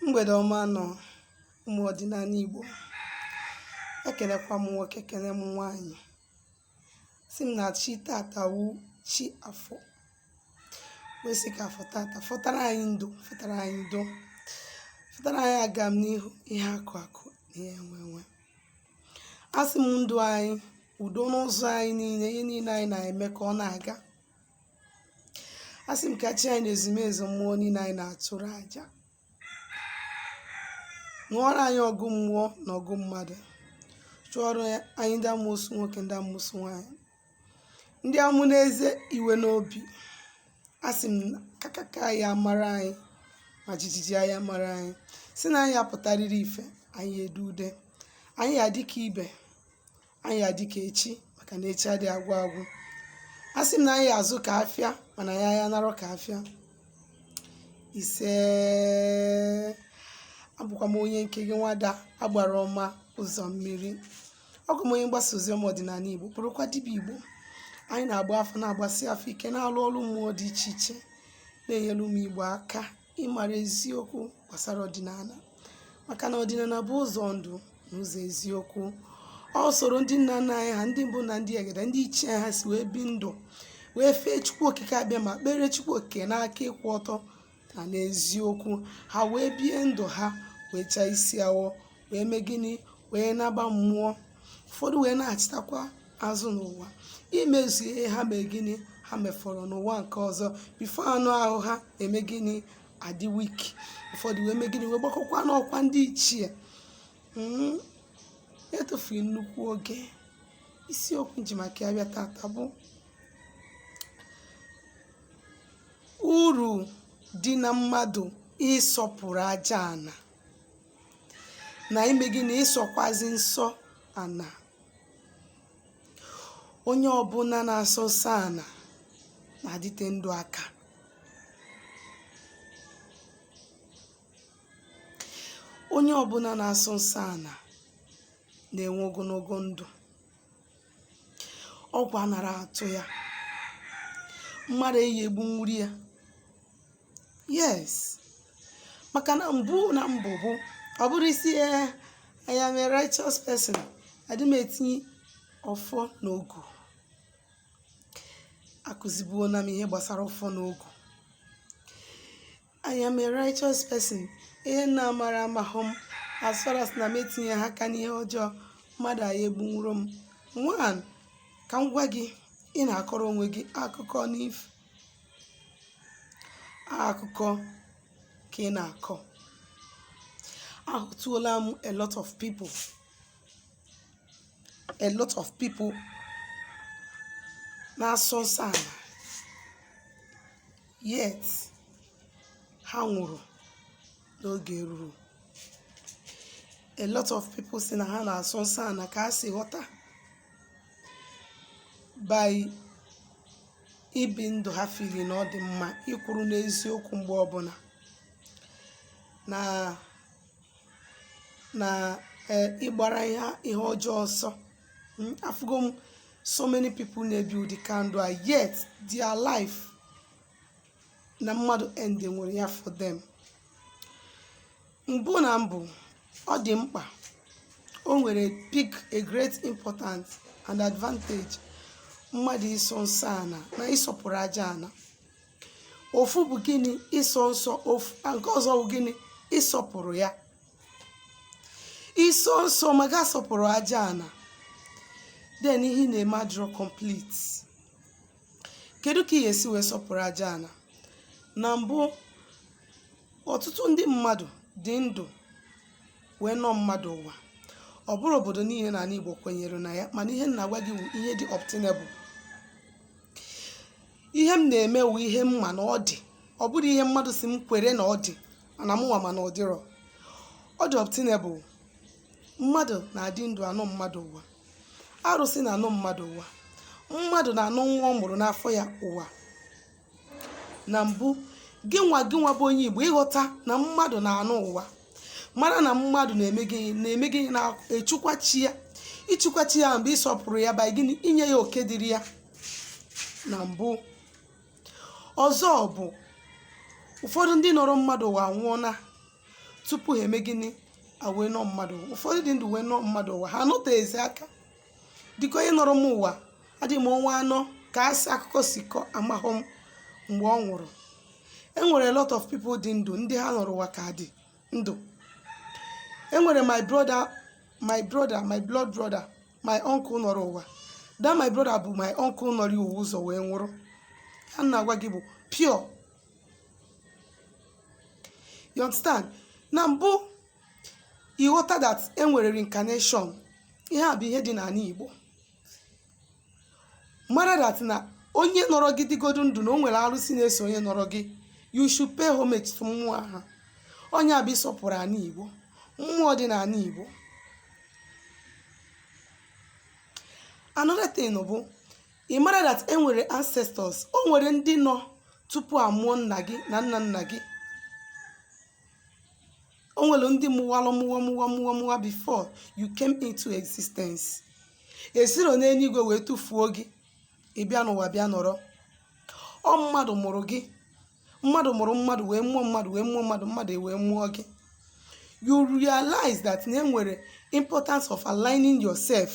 mgbèdè ọma nụ ụmụ̀ ọ̀dịnala Ìgbò ekèlekwa m nwoke kele m nwaanyị̀ sị m na chi tata wu chi afọ wee sị ka afọ tata fọtara anyị ndụ fọtara anyị ndo fọtara anyị agamnihu ihe akụ akụ na ihe enwe enwe asị m ndụ anyị udo n'ụzọ anyị niile ihe niile anyị na-eme ka ọ na-aga a sị m ka chi anyị na ezumezu mmụọ niile anyị na-atụrụ aja ṅụọrọ anyị ọgụ mmụọ na ọgụ mmadụ chụọrọ anyị ndị amusu nwoke ndị amusu nwaanyị ndị amụ n'eze iwe n'obi a sị m kakaka aya amara anyị ma jijiji aya amara anyị sị na anyị ya-apụtarịrị ife anyị ya-ede ude anyị ya-adị ka ibe anyị ya-adị ka echi maka na echi adịghị agwụ agwụ a sị m na anyị ya-azụ ka afịa mana anyị ya-anarọ ka afịa isee abụkwa m onye nke gị nwada agbara ọma ụzọ mmiri ọ bụ m onye mgbasa ozi ọma ọdịnala igbo bụrụkwa dibịa igbo anyị na-agba afa na-agbasi afa ike na-alụ ọlụ mmụọ dị iche iche na-enyere ụmụ igbo aka ịmara eziokwu gbasara ọdịnala maka na ọdịnala bụ ụzọ ndụ na ụzọ eziokwu usoro ndị nna nna anyị ha ndị mbụ na ndị egede ndị ichie anyị ha si wee bie ndụ wee fee chukwu okike abịama kpere chukwu okike n'aka ịkwụ ọtọ na n'eziokwu ha wee bie ndụ ha wee chaa isi awọ wee mee gịnị wee naba mmụọ ụfọdụ wee na-achịtakwa azụ n'ụwa imezu ihe ha mee gịnị ha mefọrọ n'ụwa nke ọzọ before anụ ahụ ha eme gịnị adị weak ụfọdụ wee mee gịnị wee gbagokwa n'ọkwa ndị ichie hmm, etufughị nnukwu oge isiokwu nji maka ya bịa tata bụ uru dị na mmadụ ịsọpụrụ aja ana na ime gịnị ịsọkwazi nsọ ana onye ọbụla na-asọ nsọ ana na-adịte ndụ aka onye ọbụla na-asọ nsọ ana na-enwe ogologo ndụ ọgwụ anara atụ ya mmadụ eyi egbunwuro ya yes maka na mbụ na mbụ bụ ọ bụrụ ị sị ee I am a righteous person adị m etinye ọfọ na ogu akụzibuona m ihe gbasara ọfọ na ogu I am a righteous person ihe m na-amarọ amahụ m as far as na m etinyehụ aka n'ihe ọjọọ mmadụ aya egbunwuro m nwanne ka m gwa gị ị na-akọrọ onwe gị akụkọ n'if akụkọ ka ị na-akọ ahụtụola m a lot of people a lot of people na-asọ nsọ ana yet ha nwụrụ n'oge ruru a lot of people si na ha na-asọ nsọ ana ka a si ghọta by ibi ndụ ha feel na ọ dị mma ịkwụrụ n'eziokwu mgbe ọbụna na na eh, ịgbara ihe ihe ọjọọ ọsọ Mm, afụgo m so many people na-ebi ụdị ka ndụ a yet their life na mmadụ end nwere ya for them mbụ na mbụ ọ dị mkpa o nwere big a great importance and advantage mmadụ ịsọ nsọ ana na ịsọpụrụ aja ana ofu bụ gịnị ịsọ nsọ ofu a, nke ọzọ bụ gịnị ịsọpụrụ ya ịsọ nsọ ma gị asọpụrụ aja ana then ihe ị na-eme adịrọ complete Kedu ka ị ga-esi wee sọpụrụ aja ana? Na mbụ, ọtụtụ ndị mmadụ dị ndụ wee nọ mmadụ ụwa. Ọ bụrọ obodo niile n'ana Igbo kwenyere na ya mana ihe m na-agwa gị wụ ihe dị obtainable. Ihe m na-eme wụ ihe m ma na ọ dị. Ọ bụrọ ihe mmadụ sị m kwere na ọ dị mana mụnwa ma na ọ dịrọ. Ọ dị obtainable. Mmadụ na-adị ndụ anọ mmadụ ụwa. arụsị na-anọ mmadụ ụwa mmadụ na-anọ nwa ọ mụrụ n'afọ ya ụwa na mbụ gị nwa gị nwa bụ onye igbo ị ghọta na mmadụ na-anọ ụwa mara na mmadụ na-eme gịnị na-echukwa chi ya ichukwa chi ya mgbe ịsọpụrụ ya by gịnị inye ya oke dịrị ya na mbụ ọzọ bụ ụfọdụ ndị nọrọ mmadụ ụwa nwụọna tupu ha eme gịnị a wee nọ mmadụ ụwa. ụfọdụ dị ndụ wee nọ mmadụ ụwa ha anọteghịzi aka dịka onye nọrọ m ụwa adịghị m ọnwa anọ ka a si akụkọ si kọ amahụ m mgbe ọ nwụrụ e nwere a lot of people dị ndụ ndị ha nọrọ ụwa ka dị ndụ e nwere my brother my brother my blood brother my uncle nọrọ ụwa that my brother bụ my uncle nọrọ ụwa ụzọ wee nwụrụ ihe a m na-agwa gị bụ pure you understand na mbụ ị ghọta that e nwere reincarnation ihe a bụ ihe dị n'anị igbo mara that na onye nọrọ gị dịgodu ndụ na o nwere arụsị na-eso onye nọrọ gị you should pay homage to mmụọ ahụ ọ nya bụ ịsọpụrụ anị igbo mmụọ dị n'anị igbo another thing bụ ị mara that e nwere ancestors o nwere ndị nọ tupu a mụọ nna gị na nna nna gị o nwere ndị mụwalụ mụwa mụwa mụwa mụwa before you came into existence e siro n'eluigwe wee tụfuo gị ị bịa n'ụwa bịa nọrọ ọ mmadụ mụrụ gị mmadụ mụrụ mmadụ wee mụọ mmadụ wee mụọ mmadụ mmadụ wee mụọ gị you realize that na e nwere importance of aligning yourself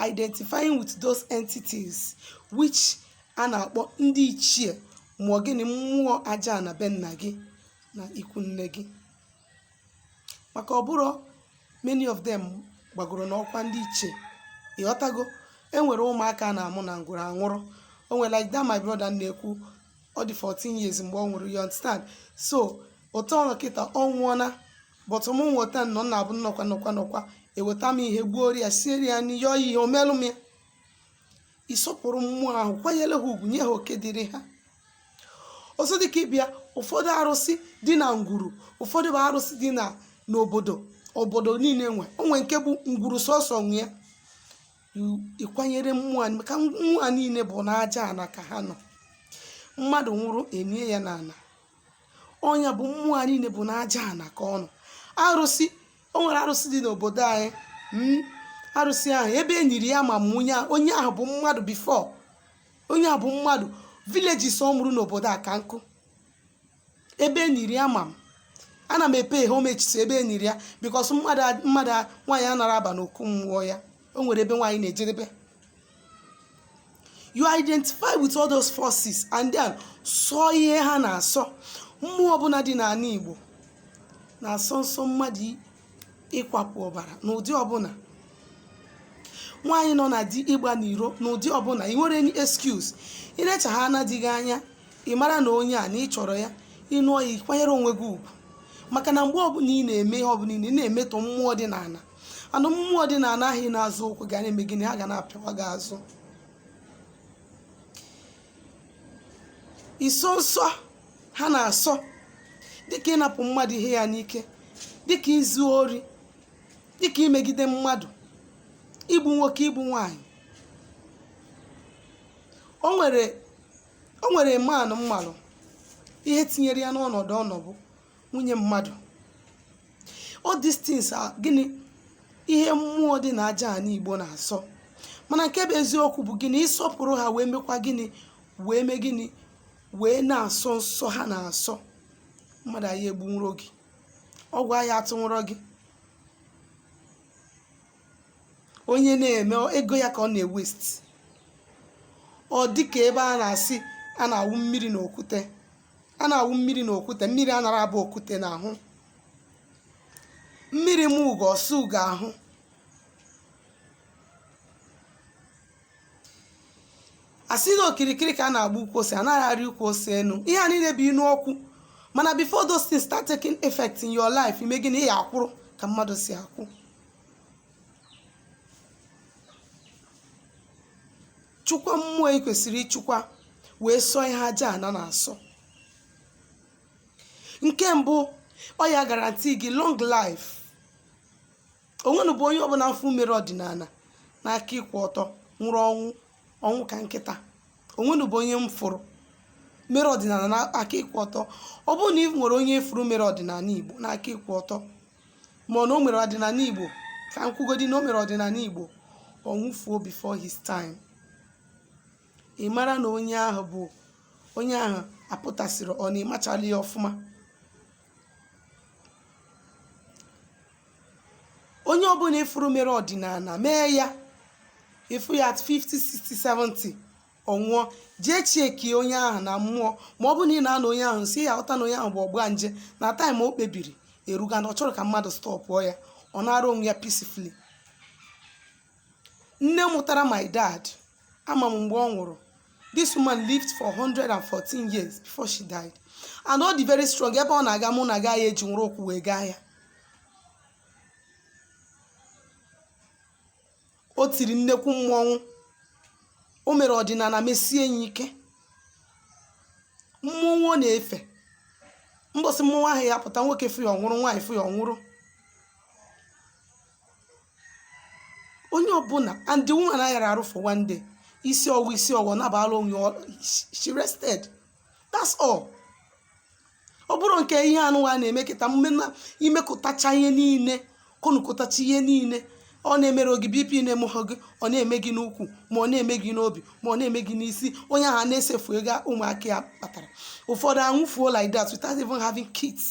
identifying with those entities which a na-akpọ ndị ichie ma ọ gịnị mmụọ aja ana be nna gị na ikwu nne gị maka ọ bụrọ many of them gbagoro n'ọkwa ndị ichie ị ghọtago e nwere ụmụaka a na-amụ na ngwuru a nwụrụ o nwere like that my brother na-ekwu ọ dị 14 years mgbe ọ nwụrụ you understand so otu ọ nọ kịta ọ nwụọna but m nweta anụ na-abụ nnọkwa nọkwa nọkwa eweta m ihe gbuo ya siere ya nri yọọ ya ihe o melụ m ya ịsọpụrụ mmụọ ahụ kwanyere ha ugwu nye ha oke dịrị ha ọzọ dịka ị bịa ụfọdụ arụsị dị na ngwuru ụfọdụ bụ arụsị dị n'obodo obodo niile nwe o nwee nke bụ ngwuru sọsọ nwe ya ịkwanyere mmụọ anyị maka mmụọ a niile bụ n'aja ana ka ha nọ mmadụ nwụrụ e nie ya n'ana ọ ya bụ mmụọ a niile bụ n'aja ana ka ọ nọ arụsị o nwere arụsị dị n'obodo anyị mm, arụsị ahụ ebe e niri ya ama m onye ahụ onye ahụ bụ mmadụ before onye ahụ bụ mmadụ villages ọ mụrụ n'obodo a ka nkụ ebe e niri ya ama m ana m epe homage to ebe e niri ya because mmadụ a- mmadụ a- nwaanyị anarọ aba n'okwu mmụọ ya o nwere ebe nwaanyị na-ejedebe you identify with all those forces and then sọ ihe ha na-asọ mmụọ ọbụna dị n'ana igbo na-asọ nsọ mmadụ i- ịkwapụ ọbara n'ụdị ọbụna nwaanyị nọ na di ịgba n'iro n'ụdị ọbụna i nwero any excuse i lechaa na di gị anya ị mara na onye a na ị chọrọ ya ị nụọ ya ị kwanyere onwe gị ugwu maka na mgbe ọbụna ị na-eme ihe ọbụna ị na-emetọ mmụọ dị n'ana and mmụọ dị n'ana ahụ ị na-azọ ụkwụ ga na-eme gịnị ha ga na-apịawa gị azụ ịsọ nsọ ha na-asọ dịka ịnapụ mmadụ ihe ya n'ike dịka izu ori dịka imegide mmadụ igbu nwoke igbu nwanyị o nwere o nwere man m malụ ihe tinyere ya n'ọnọdụ ọ nọ bụ nwunye mmadụ all these things are gịnị ihe mmụọ dị na aja ana igbo na-asọ mana nke bụ eziokwu bụ gịnị ịsọpụrụ ha wee mekwa gịnị wee mee gịnị wee na-asọ nsọ ha na-asọ mmadụ aya egbunwurọ gị ọgwụ aya atụnwurọ gị onye na-eme ego ya ka ọ na-ewest ọ dị ka ebe a na-asị a na-awụ mmiri na okwute a na-awụ mmiri na okwute mmiri anara abụ okwute na ahụ mmiri ma ugo ọ sa ugo ahụ a sị na okirikiri ka a na-agba ukwu ose anaghị arị ukwu ose enu ihe a niile bụ inu okwu mana before those things start taking effect in your life ime gịnị ị ya-akwụrụ ka mmadụ si akwụ chụkwa mmụọ i kwesịrị ịchụkwa wee sọọ ihe aja ana na-asọ nke mbụ ọ ya guarantee gị long life onwenụ bụ onye ọbụla m fụrụ mere ọdịnala n'aka ịkwụ ọtọ nwụrụ ọnwụ ka nkịta onwenụ bụ onye m fụrụ mere ọdịnala n'aka ịkwụ ọtọ ọ bụrụ na ị nwere onye ị fụrụ mere ọdịnala igbo n'aka ịkwụ ọtọ ma ọ na o mere ọdịnala Igbo ka m kwugodi na o mere ọdịnala Igbo ọ nwụfuo before his time ị mara na ọ bụ onye ahụ apụtasịrị ọ na ịmachala ya ọfụma onye ọbụla ị fụrụ mere ọdịnala mee ya ị fụ ya at 50 60 70 ọ nwụọ jee checkie onye ahụ na mmụọ ma ọ bụ na ị na-anọ onye ahụ nso ị ya-aghọta na onye ahụ bụ ọgbanje na time o kpebiri erugo and ọ chọrọ ka mmadụ stọpụọ ya ọ naara onwe ya peacefully nne mụtara my dad ama m mgbe ọ nwụrụ this woman lived for 114 years before she died and ọ dị very strong ebe ọ na-aga mụ na gaa ya eji nwere ụkwụ wee gaa ya o tiri nnekwu mmọnwụ o mere ọdịnala mesie ya ike mmọnwụ ọ na-efe mbọsị mmọnwụ ahụ ya-apụta nwoke fụ ya ọ nwụrụ nwaanyị fụ ya ọ nwụrụ onye ọbụla and the woman ayara arụ for one day isi ọwụ isi ọwụ nabala onwe ya, ọ- she rested that's all ọ bụrụ nke ihe unuwa na-eme kịta mgbe na i mekọtacha ihe niile kọnụkọtacha ihe niile ọ na-emere gị bp na-emehọ gị ọ na-eme gị n'ukwu ma ọ na-eme gị n'obi ma ọ na-eme gị n'isi onye ahụ a na-esefu ego ụmụaka ya kpatara ụfọdụ anwụfuo like that without even having kids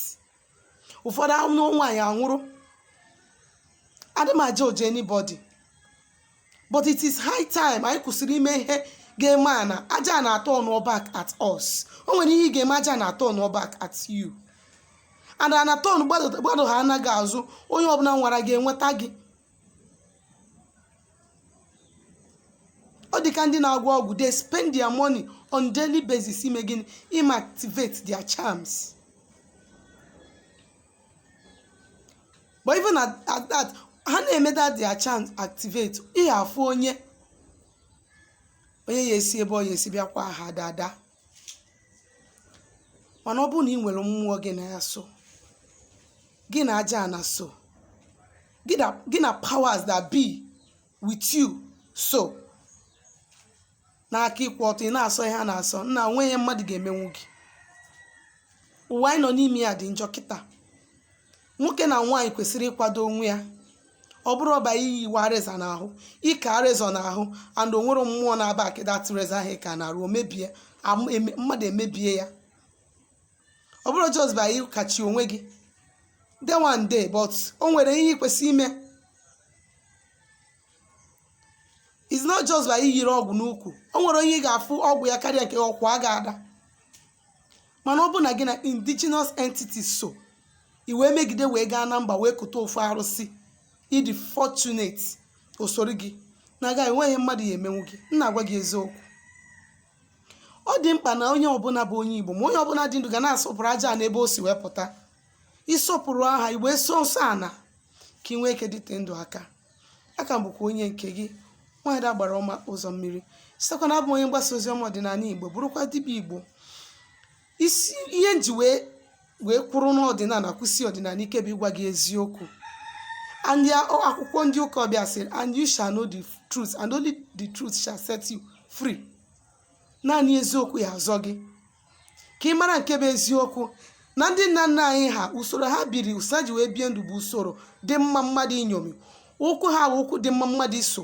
ụfọdụ anụ nwaanyị anwụrụ adị m a-judge anybody but it is high time anyị kwụsịrị ime ihe ga-eme ana aja ana turn back at us o nwere ihe ị ga-eme aja ana turn back at you and ana turn gbado ha anaghị azụ onye ọbụla nwara gị enweta gị ọ dịka ndị na-agwọ ọgwụ they spend their money on daily basis ime gịnị ime activate their charms but even at, at that ha na-eme that their charms activate ihe afụ onye onye ya esi ebe ọ ya esi bịakwa ha daa ada mana ọ bụrụ na ị nwere mmụọ gị na ya so gị na aja ana so gị na powers that be with you so n'aka ịkwụ ọtọ ị na-asọ ihe a na-asọ nna o nweghị ihe mmadụ ga-emenwu gị ụwa anyị nọ n'ime ya dị njọ kịta nwoke na nwaanyị kwesịrị ịkwado onwe ya ọ bụrọ by ịwa razor n'ahụ ịka razor n'ahụ and o nwere mmụọ na-aba a ka that razor ahụ ka na-arụ omebie am- eme- mmadụ emebie ya ọ bụrọ just by ịkachi onwe gị de one day but o nwere ihe ị kwesịrị ime it's not just by iyiri ọgwụ n'ukwu o nwere onye ị ga-afụ ọgwụ ya karịa nke ọ kwa ị ga-ada mana ọ bụ na gị na indigenous entities so i wee megide wee gaa na mba wee kuta ofu arụsị ị dị fortunate o soro gị na-aga enweghị mmadụ ya emenwu gị m na-agwa gị eziokwu ọ dị mkpa na onye ọbụla bụ onye igbo ma onye ọbụla dị ndụ ga na-asọpụrụ aja ana ebe o si wee pụta ịsọpụrụ ha i wee sọọ nsọ ana ka ị nwee ike dịte ndụ aka a ka m bụkwa onye nke gị nwaada agbara ọma ụzọ mmiri sitekwa na-abụ onye mgbasa ozi ọma ọdịnala igbo bụrụkwa dibịa igbo isi ihe m ji wee wee kwụrụ n'ọdịnala kwụsie ọdịnala ike bụ ịgwa gị eziokwu and akwụkwọ ndị ụka ọbịa sịrị and you shall know the truth and only the truth shall set you free naanị eziokwu ya azọ gị ka ị mara nke bụ eziokwu na ndị nna nna anyị ha usoro ha biri usoro ha ji wee bie ndụ bụ usoro dị mma mmadụ inyomi ụkwụ ha bụ ụkwụ dị mma mmadụ iso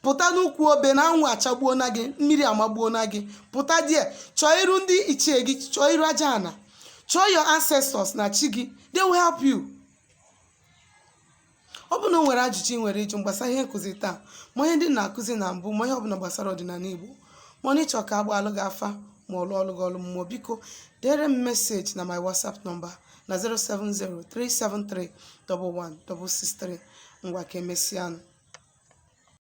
pụta n'ukwu obe na anwụ achagbuona gị mmiri amagbuona gị pụta there chọọ iru ndị ichie gị chọọ iru aja ana chọọ your ancestors na chi gị they will help you Ọ bụ na o nwere ajụjụ ị nwere ịjụ gbasara ihe nkụzi taa, ma ihe ndị m na-akụzi na mbụ, ma ihe ọbụla gbasara ọdịnala Igbo, ma ọ na ị chọ ka a gbaalụ gị afa ma ọ lụọlụ gị ọlụ mmụọ, biko deere m message na my WhatsApp number na 07037311663. Ngwa ka emesịanụ.